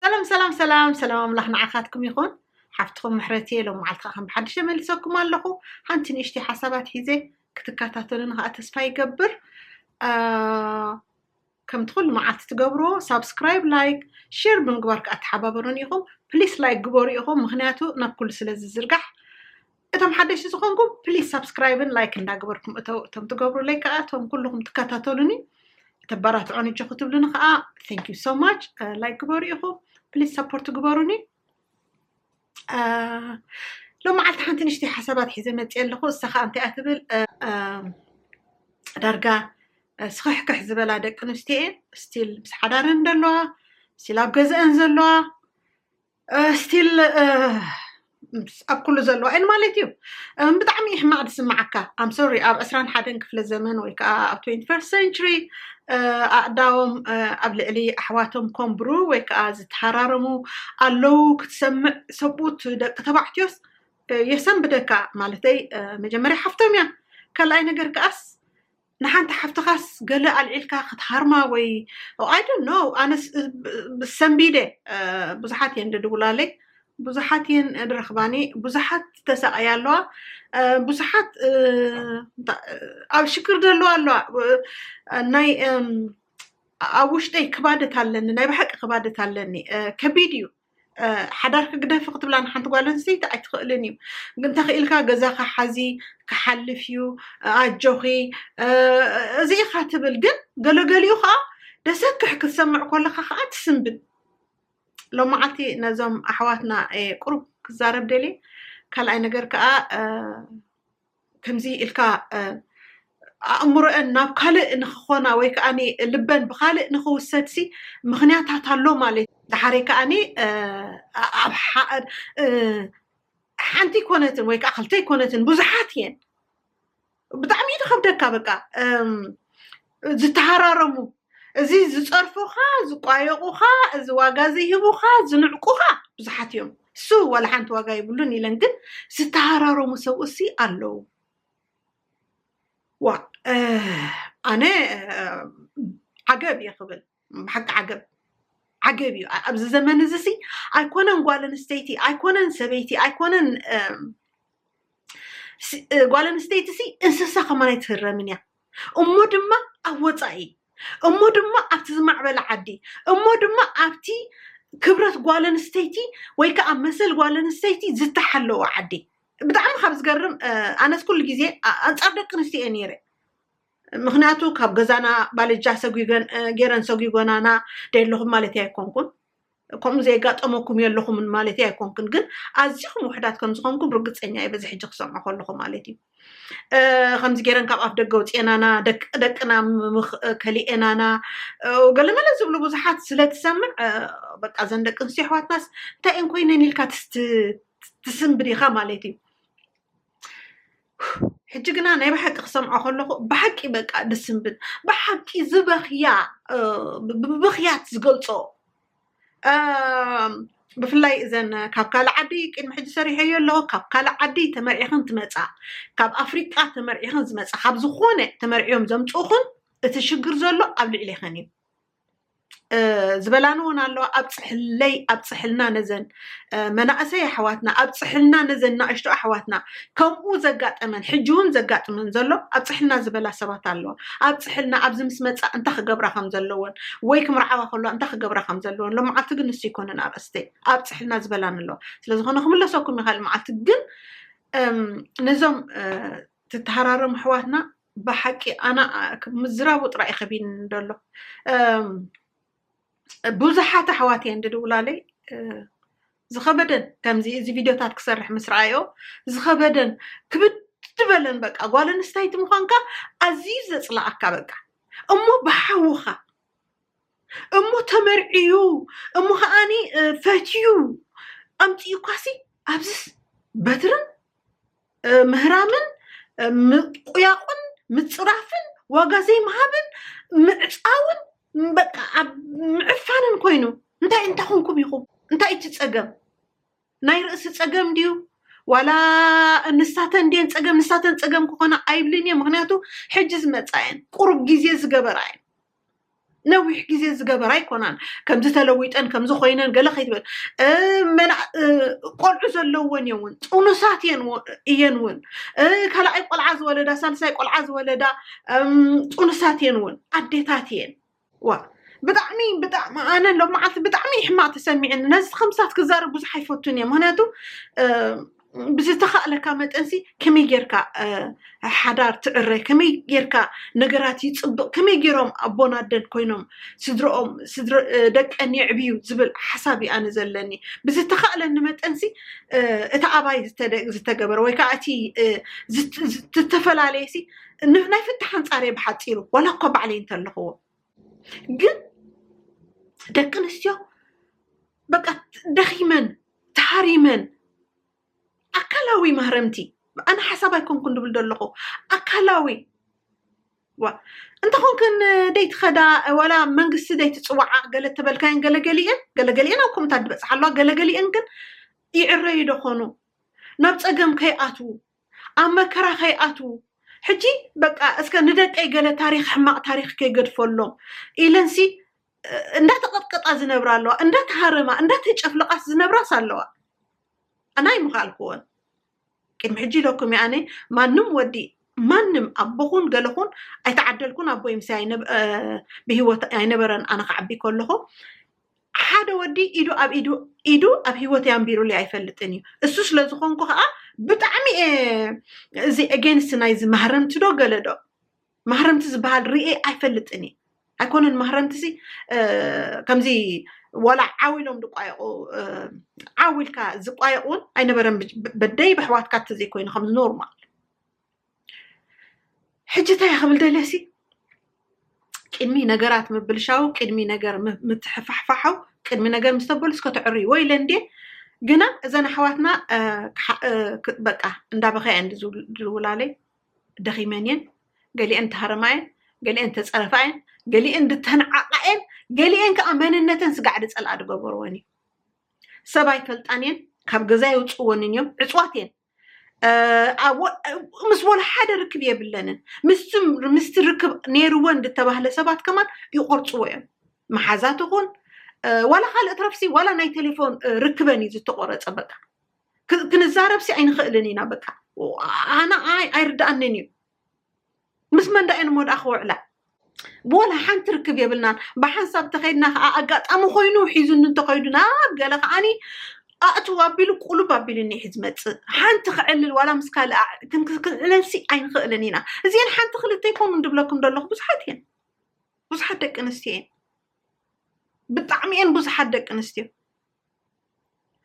ሰላም ሰላም ሰላም ሰላም ኣምላኽ ንዓኻትኩም ይኹን ሓፍትኹም ምሕረት እየ ሎም መዓልትካ ከም ብሓድሽ ተመልሰኩም ኣለኹ ሓንቲ ንእሽተይ ሓሳባት ሒዘ ክትከታተሉን ከዓ ተስፋ ይገብር ከምቲ ኩሉ መዓልቲ ትገብሮ ሳብስክራይብ ላይክ ሼር ብምግባር ከዓ ተሓባበሩን ኢኹም ፕሊስ ላይክ ግበሩ ኢኹም ምክንያቱ ናብ ኩሉ ስለ ዝዝርጋሕ እቶም ሓደሽቲ ዝኾንኩም ፕሊዝ ሳብስክራይብን ላይክ እንዳገበርኩም እተው እቶም ትገብሩለይ ከዓ እቶም ኩልኹም ትከታተሉኒ ተባራትዖን እጆ ክትብሉኒ ከዓ ቴንክ ዩ ሶ ማች ላይክ ግበሩ ኢኹም ፕሊዝ ሰፖርት ግበሩኒ ሎም መዓልቲ ሓንቲ ንሽቲ ሓሳባት ሒዘ መፅ ኣለኹ እሳ ከዓ እንታይ እያ ትብል ዳርጋ ስኽሕክሕ ዝበላ ደቂ ኣንስትዮ እየን ስቲል ምስ ሓዳረን ዘለዋ ስቲል ኣብ ገዝአን ዘለዋ ስቲል ኣብ ኩሉ ዘለዋ እየን ማለት እዩ ብጣዕሚ እዩ ሕማቕ ዝስምዓካ ኣም ሶሪ ኣብ ዕስራን ሓደን ክፍለ ዘመን ወይ ከዓ ኣብ ትንቲ ፈርስት ሰንቹሪ ኣእዳዎም ኣብ ልዕሊ ኣሕዋቶም ኮምብሩ ወይ ከዓ ዝተሃራረሙ ኣለዉ ክትሰምዕ ሰብኡት ደቂ ተባዕትዮስ የሰንብደካ ማለተይ መጀመርያ ሓፍቶም እያ ካልኣይ ነገር ከዓስ ንሓንቲ ሓፍትኻስ ገለ ኣልዒልካ ክትሃርማ ወይ ኣይ ዶንት ኖው ኣነ ሰንቢደ ብዙሓት እየን ድድውላለይ ብዙሓት እየን ድረኽባኒ ብዙሓት ዝተሳቐያ ኣለዋ ብዙሓት ኣብ ሽግር ዘለዋ ኣለዋ ናይ ኣብ ውሽጠይ ክባደት ኣለኒ ናይ ብሓቂ ክባደት ኣለኒ ከቢድ እዩ ሓዳርኪ ግደፊ ክትብላ ንሓንቲ ጓል ኣንስተይቲ ኣይትኽእልን እዩ እንተኽኢልካ ገዛኻ ሓዚ ክሓልፍ እዩ ኣጆኺ እዚ ኢኻ ትብል ግን ገለገሊኡ ከዓ ደሰክሕ ክትሰምዕ ኮለካ ከዓ ትስንብድ ሎማዓልቲ ነዞም ኣሕዋትና ቁሩብ ክዛረብ ደልየ ካልኣይ ነገር ከዓ ከምዚ ኢልካ ኣእምሮኤን ናብ ካልእ ንክኾና ወይ ከኣ ልበን ብካልእ ንክውሰድሲ ምክንያታት ኣሎ ማለት እዩ። ደሓሬ ከኣ ሓንቲ ኣይኮነትን ወይ ከኣ ክልተ ኣይኮነትን ብዙሓት እየን። ብጣዕሚ እዩ ዝኸብደካ በቃ ዝተሃራረሙ እዚ ዝጸርፉኻ ዝቋየቑኻ እዚ ዋጋ ዘይህቡኻ ዝንዕቁኻ ብዙሓት እዮም እሱ ዋላ ሓንቲ ዋጋ ይብሉን ኢለን ግን ዝተሃራረሙ ሰብኡሲ ኣለዉ ዋ ኣነ ዓገብ እየ ክብል ብሓቂ ዓገብ ዓገብ እዩ ኣብዚ ዘመን እዚ ሲ ኣይኮነን ጓል ኣንስተይቲ ኣይኮነን ሰበይቲ ኣይኮነን ጓል ኣንስተይቲ ሲ እንስሳ ከማን ኣይትህረምን እያ እሞ ድማ ኣብ ወፃኢ እሞ ድማ ኣብቲ ዝማዕበለ ዓዲ እሞ ድማ ኣብቲ ክብረት ጓል ኣንስተይቲ ወይ ከዓ መሰል ጓል ኣንስተይቲ ዝተሓለወ ዓዲ ብጣዕሚ ካብ ዝገርም ኣነስ ኩሉ ግዜ ኣንፃር ደቂ ኣንስትዮ እየ ነይረ ምክንያቱ ካብ ገዛና ባልጃ ገይረን ሰጒጎናና ደለኹም ማለት ኣይኮንኩን ከምኡ ዘይጋጠመኩም የለኹምን ማለት እዩ ኣይኮንክን ግን ኣዚኹም ውሕዳት ከም ዝኾንኩም ርግፀኛ እዩ በዚ ሕጂ ክሰምዖ ከለኹ ማለት እዩ ከምዚ ገይረን ካብ ኣፍ ደገ ውፅኤናና ደቂ ደቅና ከሊኤናና ገለመለ ዝብሉ ብዙሓት ስለትሰምዕ በቃ እዘን ደቂ ኣንስትዮ ኣሕዋትናስ እንታይ እየን ኮይነን ኢልካ ትስንብድ ኢኻ ማለት እዩ ሕጂ ግና ናይ ብሓቂ ክሰምዖ ከለኹ ብሓቂ በቃ ደስ ዝብል ብሓቂ ዝበኽያ ብብኽያት ዝገልፆ ብፍላይ እዘን ካብ ካልእ ዓዲ ቅድሚ ሕጂ ሰሪሐዮ ኣለኹ ካብ ካልእ ዓዲ ተመርዒኽን ትመፃ ካብ ኣፍሪቃ ተመርዒኽን ዝመፃ ካብ ዝኾነ ተመርዕዮም ዘምፅኡኽን እቲ ሽግር ዘሎ ኣብ ልዕሌኽን እዩ ዝበላኒ እውን ኣለዋ ኣብፅሕለይ ኣብፅሕልና ነዘን መናእሰይ ኣሕዋትና ኣብፅሕልና ነዘን ናእሽቱ ኣሕዋትና ከምኡ ዘጋጠመን ሕጂ እውን ዘጋጥመን ዘሎ ኣብፅሕልና ዝበላ ሰባት ኣለዋ ኣብፅሕልና ኣብዚ ምስ መፃ እንታይ ክገብራ ከም ዘለዎን ወይ ክምርዓዋ ከለዋ እንታይ ክገብራ ከም ዘለዎን ሎመዓልቲ ግን ንሱ ይኮነን ኣርእስተይ ኣብፅሕልና ዝበላኒ ኣለዋ ስለዝኾነ ክምለሰኩም ይኽእል መዓልቲ ግን ነዞም ትተሃራረሙ ኣሕዋትና ብሓቂ ኣነ ምዝራቡ ጥራይ ከቢን ደሎ ብዙሓት ኣሕዋት እየን ድድውላለይ ዝኸበደን ከምዚ እዚ ቪድዮታት ክሰርሕ ምስ ረኣዮ ዝኸበደን ክብድ በለን በቃ ጓል ኣንስተይቲ ምዃንካ ኣዝዩ ዘፅላኣካ በቃ እሞ ብሓውኻ እሞ ተመርዕዩ እሞ ከዓኒ ፈትዩ ኣምፅኡ ኳሲ ኣብዚስ በትርን ምህራምን ምቁያቁን ምፅራፍን ዋጋ ዘይምሃብን ምዕፃውን በቃ ኣብ ምዕፋንን ኮይኑ እንታይ እንታይ ኮንኩም ኢኹም እንታይ እቲ ፀገም ናይ ርእሲ ፀገም ድዩ ዋላ ንሳተን ድየን ፀገም ንሳተን ፀገም ክኾና ኣይብልን እየ ምክንያቱ ሕጂ ዝመፃ እየን ቁሩብ ግዜ ዝገበራ እየን ነዊሕ ግዜ ዝገበራ ኣይኮናን ከምዚ ተለዊጠን ከምዚ ኮይነን ገለ ከይትበል ቆልዑ ዘለወን እየ እውን ጥኑሳት እየን እውን ካልኣይ ቆልዓ ዝወለዳ ሳልሳይ ቆልዓ ዝወለዳ ጥኑሳት እየን እውን ኣዴታት እየን ዋ ብጣዕሚ ብጣዕሚ ኣነ ሎ መዓልቲ ብጣዕሚ ሕማቅ ተሰሚዕኒ ነዚ ከምሳት ክዛረብ ብዙሕ ኣይፈቱን እየ ምክንያቱ ብዝተኻእለካ መጠንሲ ከመይ ጌርካ ሓዳር ትዕረ ከመይ ጌርካ ነገራት ይፅብቕ ከመይ ጌሮም ኣቦን ኣደን ኮይኖም ስድርኦም ደቀን የዕብዩ ዝብል ሓሳብ እዩ ኣነ ዘለኒ ብዝተኻእለኒ መጠንሲ እቲ ኣባይ ዝተገበረ ወይ ከዓ እቲ ዝተፈላለየሲ ናይ ፍታሕ ኣንፃር እየ ብሓፂሩ ዋላ እኳ ባዕለይ እንተለኹዎ ግን ደቂ ኣንስትዮ በቃ ደኺመን ተሃሪመን ኣካላዊ ማህረምቲ ኣነ ሓሳብ ኣይኮንኩን ድብል ዘለኹ ኣካላዊ ዋ እንተኾንክን ደይትኸዳ ዋላ መንግስቲ ደይትፅዋዓ ገለ ተበልካየን ገለገሊአን ገለገሊአን ኣብ ኮምታት ዝበፅሓ ኣለዋ ገለገሊአን ግን ይዕረዩ ዶ ኾኑ ናብ ፀገም ከይኣትዉ ኣብ መከራ ከይኣትዉ ሕጂ በቃ እስከ ንደቀይ ገለ ታሪኽ ሕማቕ ታሪኽ ከይገድፈሎም ኢለንሲ እንዳተቐጥቀጣ ዝነብራ ኣለዋ እንዳተሃረማ እንዳተጨፍለቓስ ዝነብራስ ኣለዋ ኣና ኣይምኻልክዎን ቅድሚ ሕጂ ኢለኩም እየ ኣነ ማንም ወዲ ማንም ኣቦኹን ገለኹን ኣይተዓደልኩን ኣቦይ ምስ ብሂወት ኣይነበረን ኣነ ክዓቢ ከለኹ ሓደ ወዲ ኢዱ ኣብ ኢዱ ኢዱ ኣብ ሂወተይ ኣንቢሩለይ ኣይፈልጥን እዩ እሱ ስለ ዝኾንኩ ከዓ ብጣዕሚ እየ እዚ ኤጌንስት ናይዚ ማህረምቲ ዶ ገለ ዶ ማህረምቲ ዝበሃል ርኤ ኣይፈልጥን እየ ኣይኮነን ማህረምቲ ሲ ከምዚ ዋላ ዓው ኢሎም ዝቋየቑ ዓው ኢልካ ዝቋየቕ እውን ኣይነበረን ብ- ብ- በደይ በሕዋትካ ተዘይኮይኑ ከም ኖርማል ሕጂ እንታይ ክብል ደለሲ ቅድሚ ነገራት ምብልሻው ቅድሚ ነገር ምትሕፋሕፋሓው ቅድሚ ነገር ምስ ተበሉ እስከ ተዕርዩ ወይ ኢለ እንድየ ግና እዘን ኣሕዋትና በቃ እንዳበኸያ እየን ዝውላለይ ደኺመን እየን ገሊአን ተሃረማ እየን ገሊአን ተፀረፋ እየን ገሊአን ድተንዓቃ እየን ገሊአን ከዓ መንነተን ስጋዕ ድፀልኣ ዝገበርወን እዩ ሰብ ኣይፈልጣን እየን ካብ ገዛ የውፅወንን እዮም ዕፅዋት እየን ምስ ወላ ሓደ ርክብ የብለንን ምስቲ ርክብ ነይርወን ዝተባህለ ሰባት ከማን ይቆርፅዎ እዮም መሓዛ ትኹን ዋላ ካልእ ትረፍሲ ዋላ ናይ ቴሌፎን ርክበን እዩ ዝተቆረፀ በቃ ክንዛረብሲ ኣይንኽእልን ኢና በቃ ኣነ ኣይርዳኣንን እዩ ምስ መን ዳኣ እየን እሞ ዳኣ ክውዕላ ብወላ ሓንቲ ርክብ የብልናን ብሓንሳብ ተኸይድና ከዓ ኣጋጣሚ ኮይኑ ሒዙኒ እንተኸይዱ ናብ ገለ ከዓኒ ኣእትው ኣቢሉ ቁሉብ ኣቢሉኒ እዩ ዝመፅእ ሓንቲ ክዕልል ዋላ ምስ ካልእ ኣዕ- ክን- ክን- ክንዕለልሲ ኣይንኽእልን ኢና እዚአን ሓንቲ ክልተ ይኮኑ እንድብለኩም ደለኹ ብዙሓት እየን ብዙሓት ደቂ ኣንስትዮ እየን ብጣዕሚ እየን ብዙሓት ደቂ ኣንስትዮ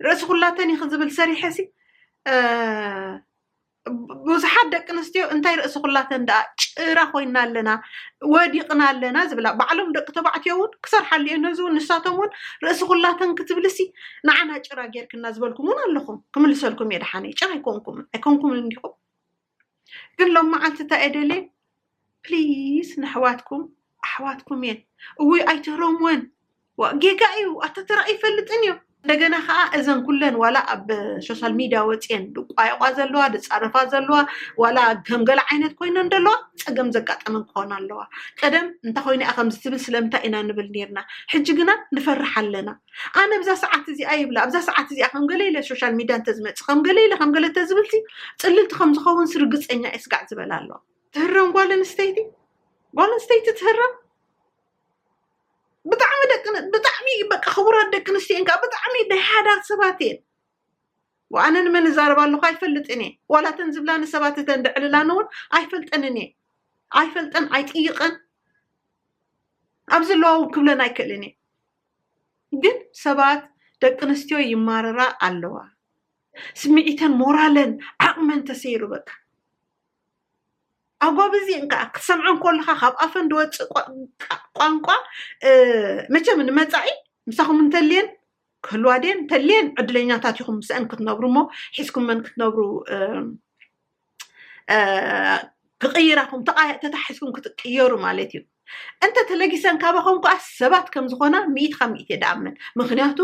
ርእሲ ኩላተን ይኽ ዝብል ሰሪሐሲ ብዙሓት ደቂ ኣንስትዮ እንታይ ርእሲ ኩላተን ደኣ ጭራ ኮይና ኣለና ወዲቕና ኣለና ዝብላ ባዕሎም ደቂ ተባዕትዮ እውን ክሰርሓሉ እዮ ነዚ እውን ንሳቶም እውን ርእሲ ኩላተን ክትብልሲ ንዓና ጭራ ጌርክና ዝበልኩም እውን ኣለኹም ክምልሰልኩም እየ ደሓነ ጭራ ኣይኮንኩም ኣይኮንኩም እንዲኹም ግን ሎም መዓልቲ እንታይ እየ ደልየ ፕሊስ ነሕዋትኩም ኣሕዋትኩም እየን እውይ ኣይትህረምወን ዋእ ጌጋ እዩ ኣታ ተራ ኣይፈልጥን እዩ እንደገና ከዓ እዘን ኩለን ዋላ ኣብ ሶሻል ሚድያ ወፅየን ድቋየቋ ዘለዋ ድፃረፋ ዘለዋ ዋላ ከምገለ ዓይነት ኮይነን ደለዋ ፀገም ዘጋጠመን ክኾና ኣለዋ ቀደም እንታይ ኮይነ እያ ከምዚ ትብል ስለምንታይ ኢና ንብል ነርና ሕጂ ግና ንፈርሕ ኣለና ኣነ ብዛ ሰዓት እዚኣ ይብላ ኣብዛ ሰዓት እዚኣ ከምገለ ኢለ ሶሻል ሚድያ እንተዝመፅእ ከምገለ ኢለ ከምገለ ተዝብልሲ ፅልልቲ ከምዝኸውንስ ርግፀኛ እየ ስጋዕ ዝበላ ኣለዋ ትህረም ጓል ኣንስተይቲ ጓል ኣንስተይቲ ትህረም ብጣዕሚ ደቂ ብጣዕሚ በቃ ክቡራት ደቂ ኣንስትዮ እየን ከዓ ብጣዕሚ ናይ ሓዳር ሰባት እየን ኣነ ንመን እዛረብ ኣለኹ ኣይፈልጥን እየ ዋላ እተን ዝብላኒ ሰባት እተን ድዕልላኒ እውን ኣይፈልጠንን እየ ኣይፈልጠን ኣይጥይቐን ኣብ ዘለዋ እውን ክብለን ኣይክእልን እየ ግን ሰባት ደቂ ኣንስትዮ ይማረራ ኣለዋ ስምዒተን ሞራለን ዓቕመን ተሰይሩ በቃ ኣጎብዚ እንከዓ ክትሰምዖ እንከለኻ ካብ ኣፈን ዝወፅእ ቋንቋ መቸም ንመፃኢ ምሳኹም እንተልየን ክህልዋ ድየን እንተልየን ዕድለኛታት ኢኹም ምስአን ክትነብሩ እሞ ሒዝኩመን ክትነብሩ ክቕይራኹም ተታሒዝኩም ክትቅየሩ ማለት እዩ እንተ ተለጊሰን ካባኹም ከዓ ሰባት ከም ዝኾና ሚኢት ካብ ሚኢት እየ ድኣምን ምክንያቱ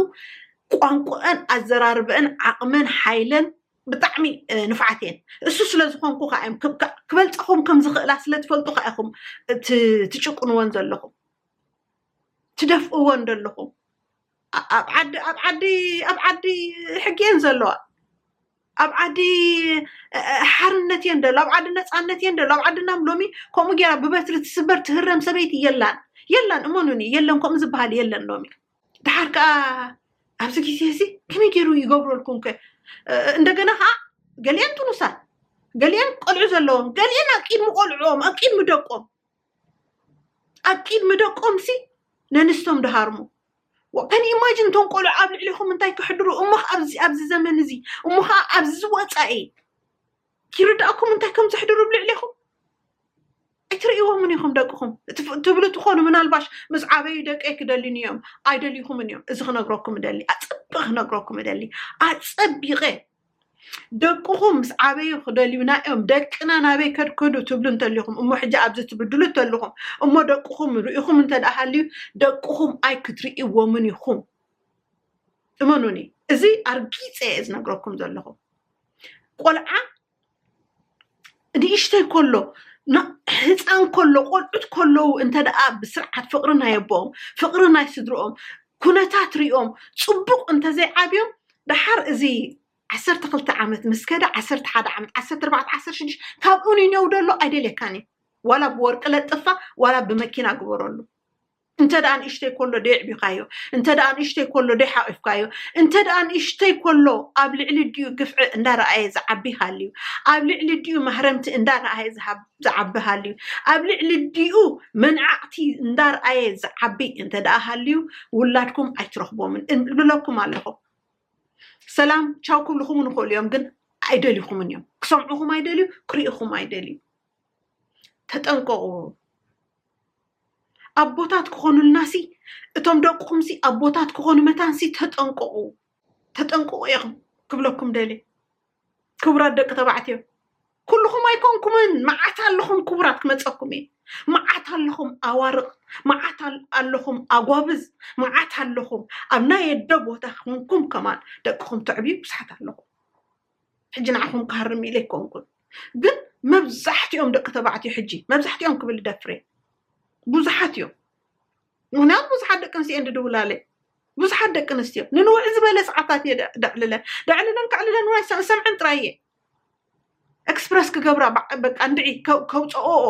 ቋንቋአን ኣዘራርበአን ዓቕመን ሓይለን ብጣዕሚ ንፍዓት እየን እሱ ስለዝኾንኩ ከዓ እዮም ክበልፀኹም ከም ዝኽእላ ስለትፈልጡ ከዓ ኢኹም ትጭቁንወን ዘለኹም ትደፍእወን ዘለኹም ኣብ ዓዲ ኣብ ዓዲ ኣብ ዓዲ ሕጊ እየን ዘለዋ ኣብ ዓዲ ሓርነት እየን ደሎ ኣብ ዓዲ ነፃነት እየን ደሎ ኣብ ዓድና ሎሚ ከምኡ ገይራ ብበትሪ ትስበር ትህረም ሰበይቲ የላን የላን እመኑኒ የለን ከምኡ ዝበሃል የለን ሎሚ ደሓር ከዓ ኣብዚ ግዜ እዚ ከመይ ገይሩ ይገብረልኩም ከ እንደገና ከዓ ገሊአን ጥኑሳት ገሊአን ቆልዑ ዘለዎም ገሊአን ኣብ ቂድሚ ቆልዑኦም ኣብ ቂድሚ ደቆም ኣብ ቂድሚ ደቆም ሲ ነንስቶም ደሃርሙ ከን ኢማጅን እቶም ቆልዑ ኣብ ልዕሊኹም እንታይ ክሕድሩ እሞ ኣብዚ ዘመን እዚ እሞ ከዓ ኣብዚ ወፃኢ ይርዳእኩም እንታይ ከም ዘሕድሩ ብ ልዕሌኹም ኣይትርእይዎምን ኢኹም ደቅኹም ትብሉ ትኾኑ ምናልባሽ ምስ ዓበዩ ደቀይ ክደልዩኒ እዮም ኣይደልይኹምን እዮም እዚ ክነግረኩም እደሊ ኣፀቢቐ ክነግረኩም እደሊ ኣፀቢቐ ደቅኹም ምስ ዓበዩ ክደልዩና እዮም ደቅና ናበይ ከድከዱ ትብሉ እንተሊኹም እሞ ሕጂ ኣብዚ ትብድሉ እንተለኹም እሞ ደቅኹም ርኢኹም እንተደሃልዩ ደቅኹም ኣይ ክትርእይዎምን ኢኹም እመኑኒ እዚ ኣርጊፀ እየ ዝነግረኩም ዘለኹም ቆልዓ ንእሽተይ ከሎ ን- ህፃን ከሎ ቆልዑት ከለዉ እንተ ደኣ ብስርዓት ፍቕሪ ናይ ኣቦኦም ፍቕሪ ናይ ስድርኦም ኩነታት ሪኦም ፅቡቕ እንተዘይዓብዮም ደሓር እዚ ዓሰርተ ክልተ ዓመት ምስ ከደ ዓሰርተ ሓደ ዓመት ዓሰርተ ኣርባዕተ ዓሰርተ ሽዱሽተ ካብኡ ንኔው ደሎ ኣይደልየካን እዩ ዋላ ብወርቂ ለጥፋ ዋላ ብመኪና ግበረሉ እንተ ደኣ ንእሽተይ ኮሎ ደየዕቢኻዮ፣ እንተ ደኣ ንእሽተይ ኮሎ ደይሓቚፍካዮ፣ እንተ ደኣ ንእሽተይ ኮሎ ኣብ ልዕሊ እዲኡ ግፍዒ እንዳ ረኣየ ዝዓቢ ሃልዩ፣ ኣብ ልዕሊ እዲኡ ማህረምቲ እንዳ ረኣየ ዝዓቢ ሃልዩ፣ ኣብ ልዕሊ እዲኡ መንዓቕቲ እንዳ ረኣየ ዝዓቢ እንተ ደኣ ሃልዩ፣ ውላድኩም ኣይትረኽቦምን እብለኩም ኣለኹ። ሰላም ቻው ክብልኹም ውን ይኽእሉ እዮም፣ ግን ኣይደልኹምን እዮም። ክሰምዑኹም ኣይደልዩ፣ ክርእዩኹም ኣይደልዩ። ተጠንቀቑ ኣቦታት ክኾኑልናሲ እቶም ደቅኹምሲ ኣቦታት ክኾኑ መታንሲ ተጠንቀቑ ተጠንቀቑ እየ ክብለኩም ደልየ ክቡራት ደቂ ተባዕትዮ ኩልኹም ኣይኮንኩምን መዓት ኣለኹም ክቡራት ክመፀኩም እየ መዓት ኣለኹም ኣዋርቕ መዓት ኣለኹም ኣጓብዝ መዓት ኣለኹም ኣብ ናይ ኣደ ቦታ ኮንኩም ከማን ደቅኹም ተዕብዩ ብዙሓት ኣለኹም ሕጂ ንዓኹም ክሃርም ኢለ ኣይኮንኩን ግን መብዛሕትኦም ደቂ ተባዕትዮ ሕጂ መብዛሕትኦም ክብል ደፍሬ ብዙሓት እዮም ምክንያቱ ብዙሓት ደቂ ኣንስትዮ እየን ድድውላለ ብዙሓት ደቂ ኣንስትዮ ንንውዕ ዝበለ ሰዓታት እየ ደዕልለ ደዕልለን ከዕልለን እውን ኣይሰምዐን ጥራይ እየ ኤክስፕረስ ክገብራ በቃ እንድዒ ከውፀኦኦ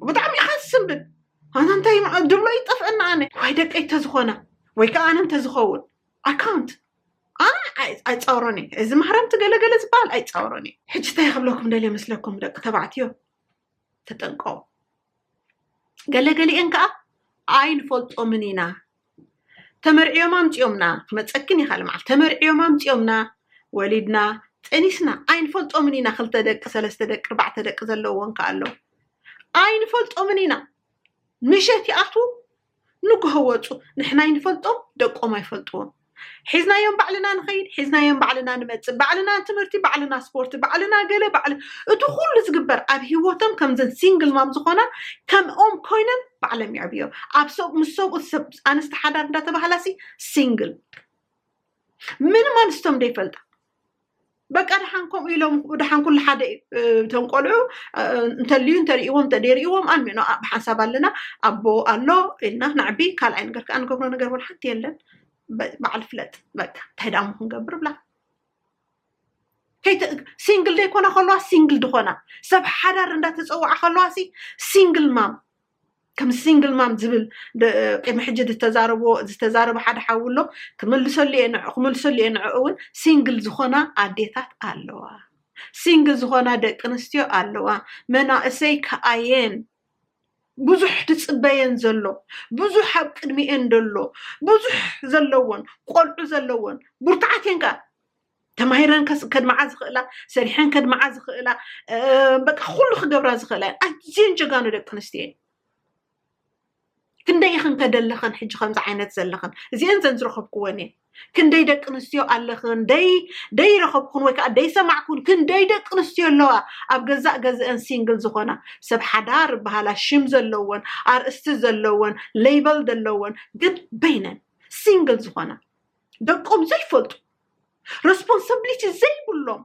ብጣዕሚ ኢኻ ዝስንብድ ኣነ እንታይ ድብሎ ይጠፍአና ኣነ ዋይ ደቀይ ተዝኾና ወይ ከዓ ኣነ እንተዝኸውን ኣካውንት ኣነ ኣይ- ኣይፃወሮን እየ እዚ ማህረምቲ ገለገለ ዝበሃል ኣይፃወሮን እየ ሕጂ እንታይ ክብለኩም ደልየ መስለኩም ደቂ ተባዕትዮ ተጠንቀቑ ገለገሊኤን ከዓ ኣይንፈልጦምን ኢና ተመርዕዮም ኣምፅኦምና ክመፀክን ይካል መዓል ተመርዕዮም ኣምፅኦምና ወሊድና ፀኒስና ኣይንፈልጦምን ኢና ክልተ ደቂ ሰለስተ ደቂ ኣርባዕተ ደቂ ዘለዎን ከዓ ኣሎ ኣይንፈልጦምን ኢና ምሸት ይኣትዉ ንጉሆ ወጹ ንሕና ኣይንፈልጦም ደቆም ኣይፈልጥዎም ሒዝናዮም ባዕልና ንኸይድ ሒዝናዮም ባዕልና ንመጽእ ባዕልና ትምህርቲ ባዕልና ስፖርቲ ባዕልና ገለ ባዕል እቲ ኩሉ ዝግበር ኣብ ሂወቶም ከምዘን ሲንግል ማም ዝኾና ከምኦም ኮይነን ባዕለም የዕብዮ ኣብ ሰብ ምስ ሰብኡት ሰብ ኣንስቲ ሓዳር እንዳተባህላሲ ሲንግል ምንም ኣንስቶም ደይፈልጣ በቃ ድሓን ከምኡ ኢሎም ድሓን ኩሉ ሓደ እቶም ቆልዑ እንተልዩ እንተርእዎም እንተደይርእዎም ኣልሚኖ ብሓንሳብ ኣለና ኣቦ ኣሎ ኢልና ናዕቢ ካልኣይ ነገር ከዓ ንገብሮ ነገር እውን ሓንቲ የለን በዓል ፍለጥ በቃ እንታይ ደኣ ክንገብር ብላ ሲንግል ዘይኮና ከለዋ ሲንግል ድኾና ሰብ ሓዳር እንዳተፀዋዓ ከለዋ ሲ ሲንግል ማም ከም ሲንግል ማም ዝብል ቅድሚ ሕጂ ዝተዛረቦ ዝተዛረበ ሓደ ሓዊ ኣሎ ክምልሰሉ እየ ንዕ ክምልሰሉ እየ ንዕኡ እውን ሲንግል ዝኾና ኣዴታት ኣለዋ ሲንግል ዝኾና ደቂ ኣንስትዮ ኣለዋ መናእሰይ ከኣየን ብዙሕ ትፅበየን ዘሎ ብዙሕ ኣብ ቅድሚኤን ዘሎ ብዙሕ ዘለዎን ቆልዑ ዘለዎን ብርቱዓት እየን ከ ተማሂረን ከድምዓ ዝኽእላ ሰሪሐን ከድምዓ ዝኽእላ በቃ ኩሉ ክገብራ ዝኽእላ እየን ኣዝየን ጀጋኑ ደቂ ኣንስትዮ እየን ክንደይ ኢኽን ከደለኽን ሕጂ ከምዚ ዓይነት ዘለኽን እዚአን ዘን ዝረኸብክወን እየን ክንደይ ደቂ ኣንስትዮ ኣለኽን ደይ ደይረኸብኩን ወይ ከዓ ደይሰማዕኩን ክንደይ ደቂ ኣንስትዮ ኣለዋ ኣብ ገዛእ ገዝአን ሲንግል ዝኾና ሰብ ሓዳር በሃላ ሽም ዘለወን ኣርእስቲ ዘለወን ሌበል ዘለወን ግን በይነን ሲንግል ዝኾና ደቆም ዘይፈልጡ ረስፖንሳብሊቲ ዘይብሎም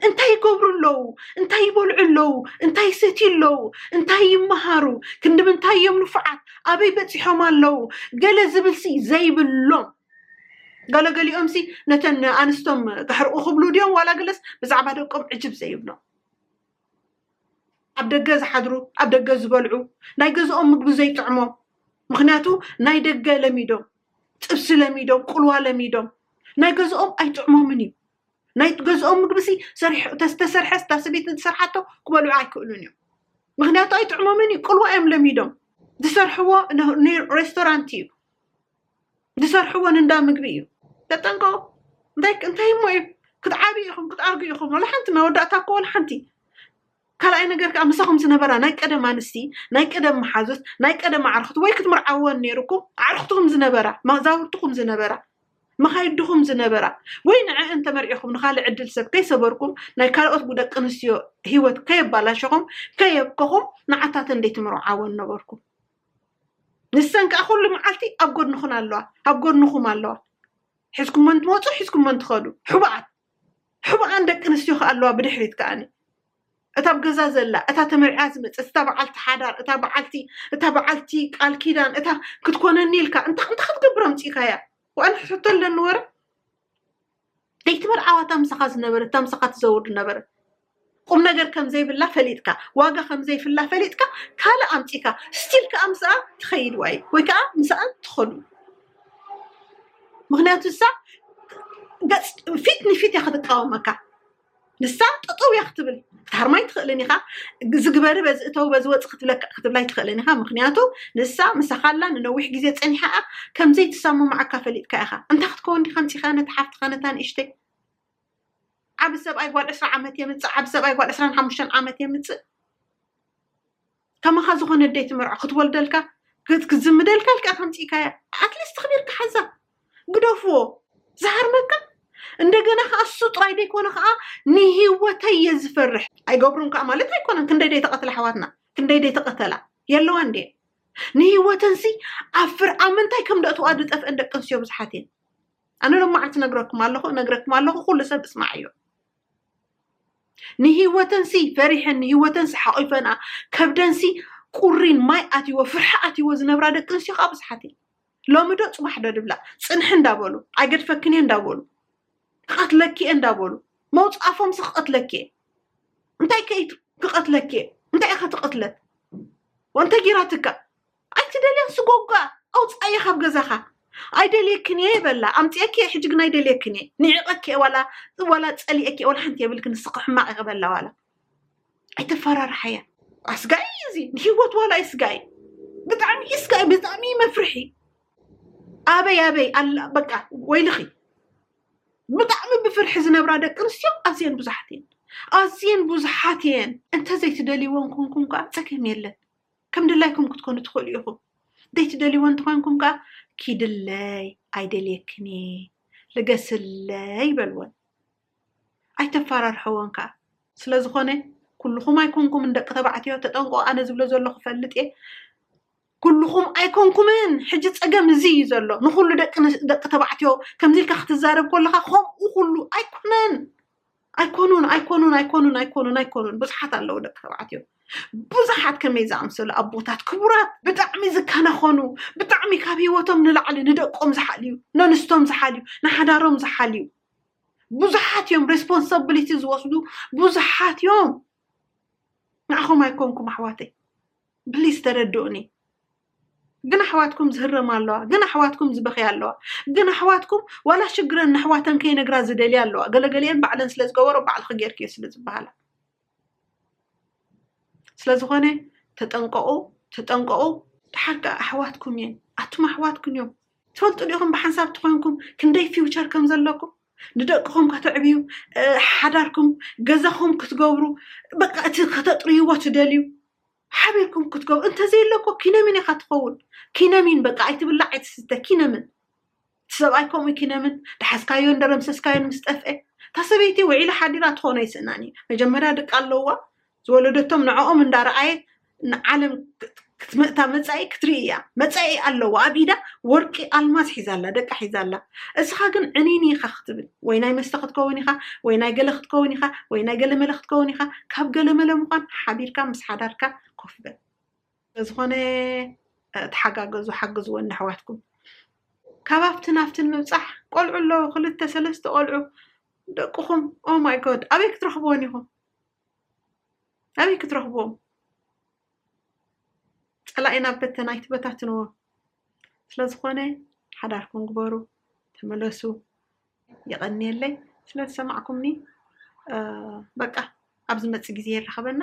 እንታይ ይገብሩ ኣለዉ እንታይ ይበልዑ ኣለዉ እንታይ ይሰትዩ ኣለዉ እንታይ ይመሃሩ ክንዲ ምንታይ እዮም ንፉዓት ኣበይ በፂሖም ኣለዉ ገለ ዝብል ሲ ዘይብሎም ገለ ገሊኦም ሲ ነተን ኣንስቶም ክሕርቑ ክብሉ ድዮም ዋላ ገለስ ብዛዕባ ደቆም ዕጅብ ዘይብሎም ኣብ ደገ ዝሓድሩ ኣብ ደገ ዝበልዑ ናይ ገዝኦም ምግቢ ዘይጥዕሞም ምክንያቱ ናይ ደገ ለሚዶም ጥብሲ ለሚዶም ቁልዋ ለሚዶም ናይ ገዝኦም ኣይጥዕሞምን እዩ ናይ ገዝኦም ምግቢ ሲ ተሰርሐ ስታ ስቤት ንዝሰርሓቶ ክበልዑ ኣይክእሉን እዮም ምክንያቱ ኣይጥዕሞምን እዩ ቁልዋ እዮም ለሚዶም ዝሰርሕዎ ሬስቶራንት እዩ ዝሰርሕዎ ንእንዳ ምግቢ እዩ ተጠንቀቁ እንታይ እንታይ እሞ እዩ ክትዓብዩ ኢኹም ክትኣርጉ ኢኹም ወላ ሓንቲ መወዳእታ እኮ ወላ ሓንቲ ካልኣይ ነገር ከዓ ምሳኹም ዝነበራ ናይ ቀደም ኣንስቲ ናይ ቀደም መሓዙት ናይ ቀደም ኣዕርኽቲ ወይ ክትምርዓወን ነይሩኩም ኣዕርኽትኹም ዝነበራ መዛውርትኹም ዝነበራ መኻይድኹም ዝነበራ ወይ ንዕአን ተመርዒኹም ንካልእ ዕድል ሰብ ከይሰበርኩም ናይ ካልኦት ደቂ ኣንስትዮ ሂወት ከየባላሸኹም ከየብከኹም ንዓታተን ደይትምርዓወን ነበርኩም ንሰን ከዓ ኩሉ መዓልቲ ኣብ ጎድንኹን ኣለዋ ኣብ ጎድንኹም ኣለዋ ሒዝኩመን ትመፁ ሒዝኩመን ትኸዱ ሕቡኣት ሕቡኣን ደቂ ኣንስትዮ ከዓ ኣለዋ ብድሕሪት ከዓኒ እታ ኣብ ገዛ ዘላ እታ ተመርዕያ ዝመፀት እታ በዓልቲ ሓዳር እታ በዓልቲ እታ በዓልቲ ቃል ኪዳን እታ ክትኮነኒ ኢልካ እንታ እንታይ ክትገብር ኣምፂእካያ ዋን ሕቶ ኣለኒ ወረ ለይቲ መርዓዋ እታ ምሳኻ ዝነበረት እታ ምሳኻ ትዘውር ዝነበረት ቁም ነገር ከም ዘይብላ ፈሊጥካ ዋጋ ከም ዘይፍላ ፈሊጥካ ካልእ ኣምፂካ ስቲል ከዓ ምስኣ ትኸይድ ዋይ ወይ ከዓ ምስኣ ትኸዱ ምክንያቱ እሳ ገፅ ፊት ንፊት እያ ክትቃወመካ ንሳ ጠጠው እያ ክትብል ታርማይ ትኽእልን ኢኻ እዚ ግበሪ በዚ እተው በዚ ወፅ ክትብለካ ክትብላይ ትኽእልን ኢኻ ምክንያቱ ንሳ ምሳኻላ ንነዊሕ ግዜ ፀኒሓ እያ ከምዘይ ትሰማማዓካ ፈሊጥካ ኢኻ እንታይ ክትከውን ዲኻ ምፂኻ ነቲ ሓፍትኻ ነታ ንእሽተይ ዓብ ሰብኣይ ጓል ዕስራ ዓመት የምፅእ ዓብ ሰብኣይ ጓል ዕስራን ሓሙሽተን ዓመት የምፅእ ከማኻ ዝኾነ ኣደይ ትመርዖ ክትወልደልካ ክትዝምደልካ ኢልካ ከምጺእካያ ኣትሊስት ክቢርካ ሓዛ ግደፍዎ ዝሃርመካ እንደገና ከዓ እሱ ጥራይ ዘይኮነ ከዓ ንሂወተይ እየ ዝፈርሕ ኣይገብሩን ከዓ ማለት ኣይኮነን ክንደይ ደይ ተቐትላ ኣሕዋትና ክንደይ ደይ ተቐተላ የለዋ እንዴ ንሂወተንሲ ኣብ ፍርዓ ምንታይ ከም ደእትዋ ዝጠፍአን ደቂ ኣንስትዮ ብዙሓት እየን ኣነ ሎማዕንቲ ነግረኩም ኣለኹ ነግረኩም ኣለኹ ኩሉ ሰብ እስማዕ እዮ ንህይወተንሲ ፈሪሐን ንህይወተንሲ ሓቒፈንኣ ከብደንሲ ቁሪን ማይ ኣትይዎ ፍርሒ ኣትይዎ ዝነብራ ደቂ ኣንስትዮ ከዓ ብዙሓት እየን ሎሚ ዶ ፅባሕ ዶ ድብላ ፅንሒ እንዳበሉ ኣይገድፈክን እየ እንዳበሉ ክቐትለኪ እየ እንዳበሉ መውፃፎምሲ ክቐትለኪ እየ እንታይ ከይ ክቐትለኪ እየ እንታይ ኢኸ ትቕትለት ወንተ ጊራትካ ኣይትደልያን ስጎጓ ኣውፃእየ ካብ ገዛኻ ኣይደልየክን እየ በላ ኣምፅኤኪ እየ ሕጂ ግን ኣይደልየክን እየ ንዒቐኪ እየ ዋላ ዋላ ፀሊኤኪ እየ ዋላ ሓንቲ የብልክን ንስኺ ሕማቕ እየ ክበላ ዋላ ኣይተፈራርሓያ ኣስጋኢ እዩ እዚ ንሂወት ዋላ እዩ ስጋኢ ብጣዕሚ እዩ ስጋኢ ብጣዕሚ እዩ መፍርሒ ኣበይ ኣበይ ኣላ በቃ ወይልኺ ብጣዕሚ ብፍርሒ ዝነብራ ደቂ ኣንስትዮ ኣዝየን ብዙሓት እየን ኣዝየን ብዙሓት እየን እንተዘይትደልይወን ኮንኩም ከዓ ፀገም የለን ከም ድላይኩም ክትኮኑ ትኽእሉ ኢኹም። ዘይትደልይዎ እንተኾይንኩም ከኣ ኪድለይ ኣይደልየክን እየ ልገስለይ በልወን። ኣይተፈራርሐወን ከኣ። ስለ ዝኾነ ኩልኹም ኣይኮንኩምን ደቂ ተባዕትዮ ተጠንቀቑ ኣነ ዝብሎ ዘለኹ ፈልጥ እየ ኩልኹም ኣይኮንኩምን ሕጂ ፀገም እዚ እዩ ዘሎ ንኩሉ ደቂ ተባዕትዮ ከምዚ ኢልካ ክትዛረብ ከለካ ከምኡ ኩሉ ኣይኮነን ኣይኮኑን ኣይኮኑን ኣይኮኑን ኣይኮኑን ኣይኮኑን ብዙሓት ኣለዉ ደቂ ተባዕትዮ ብዙሓት ከመይ ዝኣምሰሉ ኣቦታት ክቡራት ብጣዕሚ ዝከናኸኑ ብጣዕሚ ካብ ሂወቶም ንላዕሊ ንደቆም ዝሓልዩ ነንስቶም ዝሓልዩ ንሓዳሮም ዝሓልዩ ብዙሓት እዮም ሬስፖንሳብሊቲ ዝወስዱ ብዙሓት እዮም ንዓኹም ኣይኮንኩም ኣሕዋተይ ብሊስ ተረድኡኒ ግን ኣሕዋትኩም ዝህረማ ኣለዋ ግን ኣሕዋትኩም ዝበኽያ ኣለዋ ግን ኣሕዋትኩም ዋላ ሽግረን ንኣሕዋተን ከይነግራ ዝደልያ ኣለዋ ገለገሊአን ባዕለን ስለ ዝገበሮ ባዕልኺ ጌርክዮ ስለ ዝበሃላ ስለ ዝኾነ ተጠንቀቑ ተጠንቀቑ ተሓቂ ኣሕዋትኩም እየን ኣቱም ኣሕዋትኩም እዮም ትፈልጡ ዲኹም ብሓንሳብ ትኾይንኩም ክንደይ ፊውቸር ከም ዘለኩም ንደቅኹም ከተዕብዩ፣ ሓዳርኩም፣ ገዛኹም ክትገብሩ፣ በቃ እቲ ከተጥርይዎ ትደልዩ ሓቢርኩም ክትገብሩ እንተዘየሎ እኮ ኪነሚን ኢኻ ትኸውን። ኪነሚን በቃ ኣይትብላዕ ኣይትስተ ኪነምን እቲ ሰብኣይ ከምኡ ኪነምን ዳሓዝካዮ እንደረምሰስካዮን ምስ ጠፍአ እታ ሰበይቲ ውዒላ ሓዲራ ትኾኖ ኣይስእናን እዩ መጀመርያ ደቂ ኣለዋ ዝወለደቶም ንዕኦም እንዳረኣየት ንዓለም ክትምእታ መፃኢ ክትርኢ እያ መፃኢ ኣለዎ ኣብ ኢዳ ወርቂ ኣልማዝ ሒዛ ኣላ ደቃ ሒዛ ኣላ እስኻ ግን ዕኒኒ ኢኻ ክትብል ወይ ናይ መስተ ክትከውን ኢኻ ወይ ናይ ገለ ክትከውን ኢኻ ወይ ናይ ገለ መለ ክትከውን ኢኻ ካብ ገለ መለ ምዃን ሓቢርካ ምስ ሓዳርካ ኮፍ በል ስለዝኾነ ተሓጋገዙ ሓግዝወን ኣሕዋትኩም ካብ ኣብትን ኣብትን ምብፃሕ ቆልዑ ኣለዉ ክልተ ሰለስተ ቆልዑ ደቅኹም ኦ ማይ ጎድ ኣበይ ክትረኽብዎን ኢኹም ኣበይ ክትረኽብዎም ፀላኢ ናብ በተና ኣይትበታትንዎ ስለዝኾነ ሓዳርኩም ግበሩ ተመለሱ የቐንየለይ ስለዝሰማዕኩምኒ በቃ ኣብ ዝመፅእ ግዜ የራኽበና።